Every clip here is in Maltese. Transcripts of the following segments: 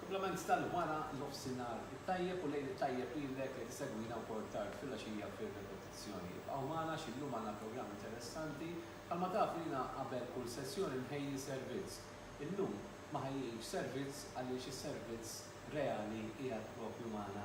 Kumplament tal-wara nofsinhar it-tajjeb u lejl it-tajjeb lilek jekk isegwina wkoll tard filgħaxija fir-repetizzjoni. Ibqgħu magħna għax illum għandna programm interessanti. Bħalma tafu jiena qabel kull sessjoni nħejji servizz. Illum ma ħejjejtx servizz għaliex is-servizz reali qiegħed propju magħna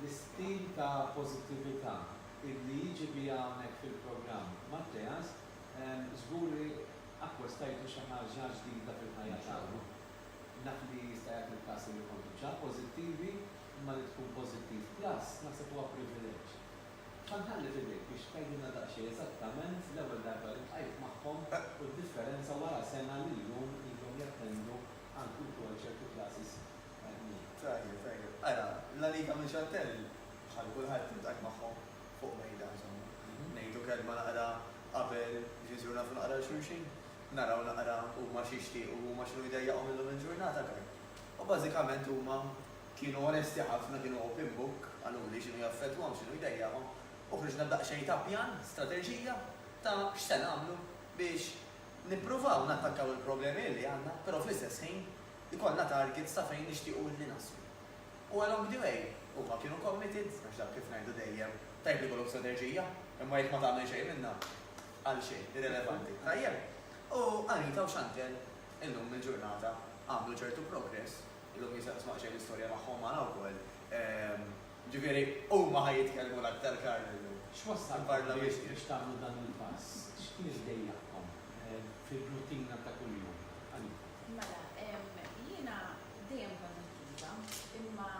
L-istil ta' pożittività illi jiġi biha hawnhekk fil-programm Matteas żgur li akkostajtu xi ħaġa ġdida fil-ħajja tagħkom. Naf li jista' jagħti l-każ illi kontu ġa pożittivi, imma li tkun pożittiv plus naħseb huwa privileġġ. Sa nħalli f'idejk biex tgħidilna daqsxejn eżattament l-ewwel darba li ltqajt magħhom u d-differenza wara sena li llum ilhom jattendu għal kultu għal ċertu classes Tajjeb, tajjeb. Ara, La Liga minn Chantelle, bħal kulħadd, iltqajt magħhom fuq mejda, insomma. Ngħidu kelma naqra qabel biex iżuru nafu naqra 'l xulxin, naraw naqra huma x'jixtiequ u huma x'inhu jdejjaqhom illum il-ġurnata, tajjeb. U bażikament huma kienu onesti ħafna, kienu open book qaluli x'inhu jaffettwahom, x'inhu jdejjaqhom u ħriġna b'daqsxejn ta' pjan, strateġija ta' x'se nagħmlu biex nippruvaw nattakkaw il-problemi li għandna, però fl-istess ħin Ikollna targets ta' fejn nixtiequ illi naslu. U along the way, huma kienu committed, għax dak kif ngħidu dejjem, tajjeb li jkollok strateġija, imma jekk ma tagħmel xejn minnha, għal xejn, irrelevanti. Tajjeb? U Anita u Chantelle illum il-ġurnata għamlu ċertu progress, illum jista' tisma' daqsxejn l-istorja tagħhom magħna wkoll, ġifieri huma ħa jitkellmu l-aktar Karl illum. X'wassalkom biex tagħmlu dan il-pass? X'kien iġdejjaqkom fir-rutina ta' kuljum? Anita. Mela, jiena dejjem kont attiva, imma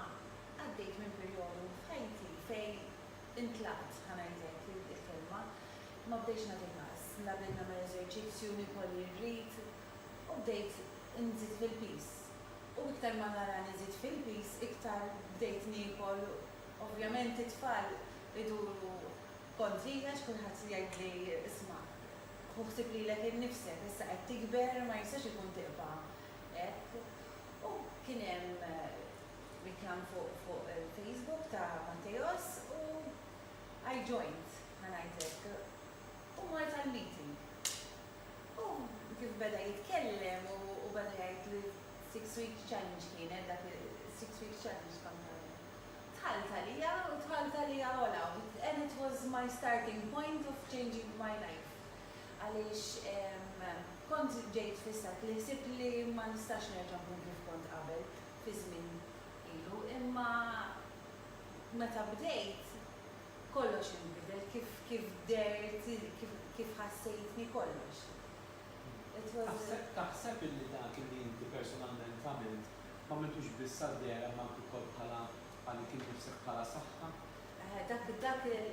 għaddejt minn perjodu f'ħajti fejn intlaqt, ħa ngħidlek il-kelma, ma bdejtx nagħti każ, la bdejt nagħmel eżerċizzju, niekol li rrid, u bdejt inżid fil-piż. U iktar ma tarani nżid fil-piż, iktar bdejt niekol, ovvjament it-tfal iduru kontrija għax kulħadd jgħidli isma', Hu ħsieb lilek innifsek, issa qed tikber, ma jistax ikun tibqa' hekk. U kien hemm riklam fuq il-Facebook ta' Matteos u I joined, ħa ngħid hekk, u mort għall-meeting. U kif beda jitkellem u beda jgħid li six week challenge kienet dak, six week challenge kont għamilt. Dħalt għalija u dħalt għalija ogħla and it was my starting point of changing my life għaliex kont ġejt fissat li ħsibt li ma nistax nerġa' nkun kif kont qabel fi żmien ilu imma meta bdejt kollox inbidel kif kif dehrt kif kif ħassejtni kollox it was Taħseb taħseb illi dak illi inti personalment għamilt M'għamiltux biss għal dehra imma anki wkoll bħala għal dik innifsek bħala saħħa. Eħe, dak, dak il,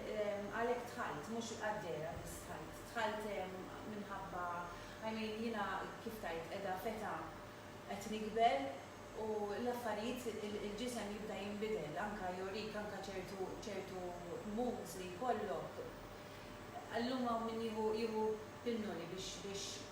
għalhekk dħalt, mhux għad-dehra biss dħalt. Dħalt minħabba, I mean, jiena kif tgħid, qiegħda f'età qed nikber u l-affarijiet, il-ġisem jibda jinbidel, anke jorik anke ċertu, ċertu moods li jkollok. Illum hawn min jieħu, jieħu pinnoli biex, biex.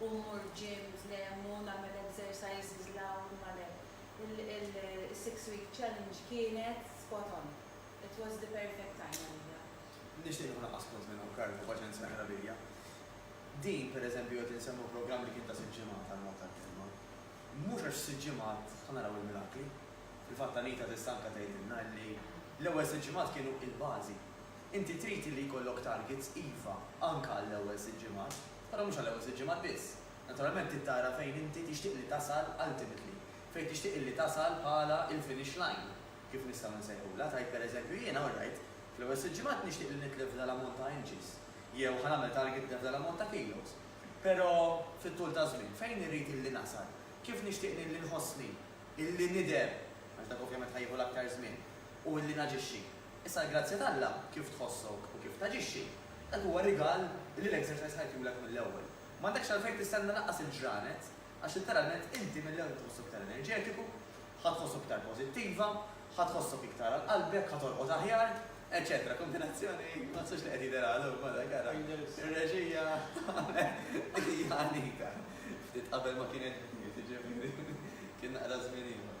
u mmur gym dlem u nagħmel exercises 'l hawn u ma' le. Il-six week challenge kienet spot on. It was the perfect time għalija. Nixtieq nieħu naqqas punt minn hawn Karl, ħu paċenzja eqra lilja. Din, per eżempju, qed insemmu programm li kien ta' sitt ġimgħat għall-mod tal-kelma. Mhux għax f'sitt ġimgħat ħa naraw il-mirakli. Fil-fatt Anita tista' anke tgħidilna illi l-ewwel sitt ġimgħat kienu il-bażi. Inti trid illi jkollok targets iva, anke għall-ewwel sitt ġimgħat. Però mhux għall-ewwel sitt ġimgħat biss. Naturalment trid tara fejn inti tixtieq li tasal ultimately. Fejn tixtieq illi tasal bħala il-finish line, kif nistgħu nsejħulha, tgħid pereżempju jiena all right, fl-ewwel sitt ġimgħat nixtieq li nitlef f'dan l-ammont ta' inches, jew ħa nagħmel target nitlef dan l-ammont ta' kilos. Però fit-tul taż-żmien, fejn irrid illi nasal? Kif nixtieq illi nħossni, illi nidher, għax dak ovvjament ħa jieħu l-aktar żmien, u illi naġixxi? Issa l-grazzja t'Alla, kif tħossok u kif taġixxi, dak huwa rigal li l-Exercise ħa jtulek mill-ewwel. M'għandekx għalfejn tistenna lanqas il-ġranet għax litteralment inti mill-ewwel ħa tħossok iktar enerġetiku, ħa tħossok iktar pożittiva, ħa tħossok iktar għal qalbek, ħa torqod aħjar, eċċetera Kombinazzjoni ma nfsibx li qed jidher għal omm ara kara r-reġija tagħmel hija anita. Ftit qabel ma kien hemm jiġifieri kien naqra żmien ieħor.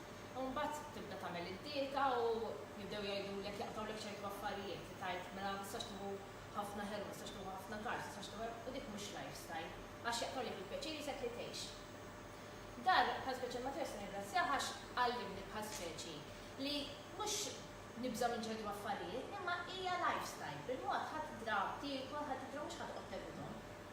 U mbagħad tibda tagħmel id-dieta u jibdew jgħidulek jaqtgħulek ċertu affarijiet li tgħid mela ma tistax tieħu ħafna ħelu, ma tistax tieħu ħafna carbs, ma tistax tieħu hekk u dik mhux lifestyle għax jaqtgħulek il-pjaċir jisek li tgħix. Dan bħal speċi Mattias nirringrazzjah għax għallimni bħal speċi li mhux nibża' minn ċertu affarijiet imma hija lifestyle, bil-mod ħa tidra tiekol, ħa tidra mhux ħa toqgħod tevithom.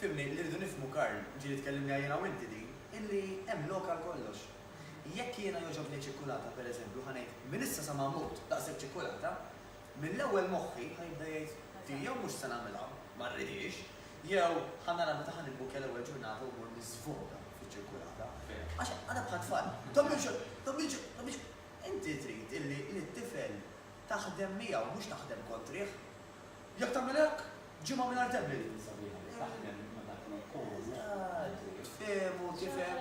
Fhimni, li rridu nifhmu, Karl, ġieli tkellimniha jiena u inti din, illi hemm lok għal kollox. Jekk jiena jogħġobni ċ-ċikkulata, per eżempju, ħa ngħid, minn issa sa ma mmut, daqshekk ċikkulata, mill-ewwel moħħi ħa jibda jgħid, di jew mhux se nagħmilha, ma rridhiex, jew ħa nara meta ħa nibbukja l-ewwel ġurnata u mmur niżvoga fiċ-ċikkulata. Għax għadha bħat-tfal, dommi xogħol, dommi xogħol, dommi xogħol. Inti trid illi lit-tifel taħdem miegħu, mhux taħdem kontrih. Jekk tagħmel hekk, ġimgħa mingħajr debli tkun sabiħa li taħdem ma' dak li jkollok u tifhem u tifhem.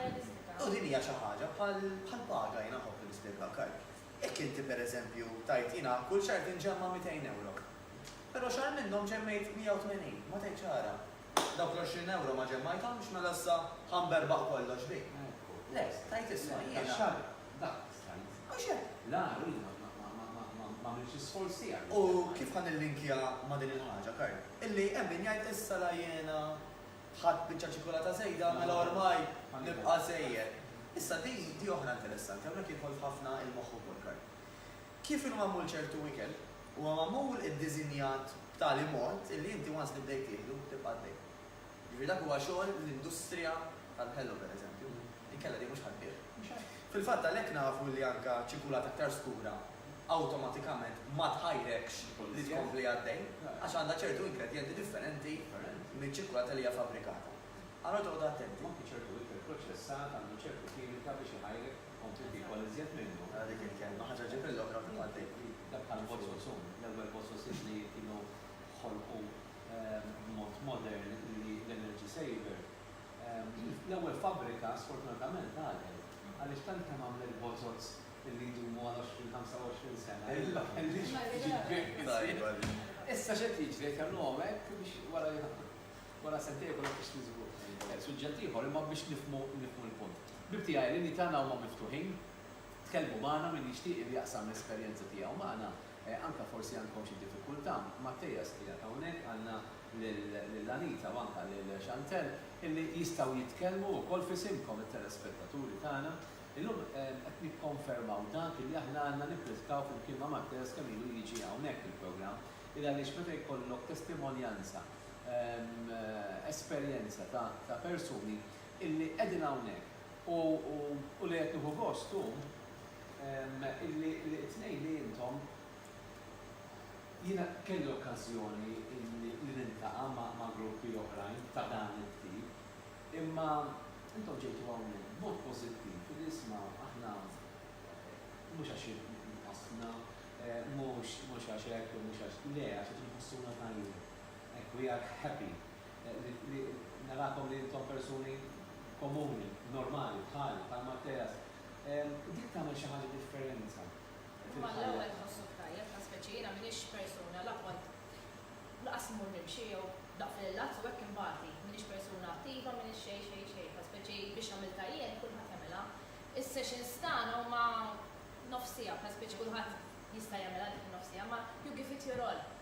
U din hija xi ħaġa bħal paga, jiena nħobb li nispjegha hekk. Jekk inti, per eżempju, tgħid jiena kull xahar tinġemma' mitejn ewro, però xahar minnhom ġemmejt 180, ma tgħidx ara, dawk l-għoxrin ewro ma ġemmajthomx, mela issa ħa nberbaq kollox bik. Le, tgħid isma' jiena. Stajt. Għax hekk. La, hu li ma għamilx l-isforz tiegħek. U kif ħa nillinkja ma' din il-ħaġa, Karl? Illi hemm min jgħid issa la jiena ħadt biċċa ċikulata żejda mela ormai nibqa' żejjed. Issa di oħra interessanti, hawnhekk jidħol f'ħafna il-moħħ ukoll, Karl. Kif inhu magħmul ċertu ikel, huwa magħmul iddiżinjat b'tali mod illi inti once li bdejt tieħdu tibqa' għaddej. Jiġifieri dak huwa xogħol l-industrija tal-ħelu pereżempju, inkella din mhux ħadd tbigħ. Fil-fatt għalhekk nafu li anke ċikulat aktar skura awtomatikament ma tħajrekx li tkompli għaddej għax għandha ċertu ingredjenti differenti miċ-ċikulata li hija fabbrikata. Allura toqgħodu attenti. U anke ċertu ikel proċessat għandu ċertu kimika biex iħajrek tkompli tiekol iżjed minnu. Ara dik il-kelma, ħaġa ġġib il-oħra fil-fatt hi. Dak bħal Bososum, l-ewwel Bososim li kienu ħolqu b'mod modern li l-energy saver, l-ewwel fabbrika sfortunatament għalqet għaliex tant kemm għamlet bozoz li jdumu għal 20, 25 sena li ma kellhiex tiġi b'hekk. Issa x'qed jiġri, qed jagħmluhom hekk biex wara wara sentejn ikollok tixtri żgur. Suġġett ieħor, imma biex nifhmu nifhmu l-punt. Ħbieb tiegħi, l-linji tagħna huma miftuħin, tkellmu magħna min jixtieq li jaqsam l-esperjenza tiegħu magħna Anke forsi għandkom xi diffikultà Matteas qiegħed hawnhekk, għandna lil Anita u anke lil Chantelle illi jistgħu jitkellmu wkoll f'isimkom it-telespettaturi tagħna. Illum qed nikkonfermaw dak illi aħna għandna nippritkaw flimkien ma' Matteas kemm ilu jiġi hawnhekk il-programm il għaliex meta jkollok testimonjanza, esperjenza ta' persuni illi qegħdin hawnhekk u li qed nieħu gost u. Illi t-tnejn li intom, jiena kelli okkażjoni li niltaqa' ma' gruppi oħrajn ta' dan it-tip, imma intom ġejtu hawnhekk b'mod pożittiv li isma' aħna mhux għax inqasdna, mhux għax hekk u mhux għax, le, għax qed inħossuna tajjeb. Hekk, we are happy li narakom li intom persuni komuni, normali, bħali, bħal Matteas, Dik tagħmel xi ħaġa differenza fil-ħajja. Imma l-ewwel tħossok tajjeb, ta' speċi. Jiena m'iniex persuna la kont lanqas immur nimxi jew daqs l-ilazz u hekk inbati. M'iniex persuna attiva, m'iniex xejn, xejn, xejn. Ta' speċi biex għamiltha jien, kulħadd jagħmilha. Is-sessions tagħna huma nofs siegħa, ta' speċi kulħadd jista' jagħmilha dik in-nofs siegħa, imma you give it your all.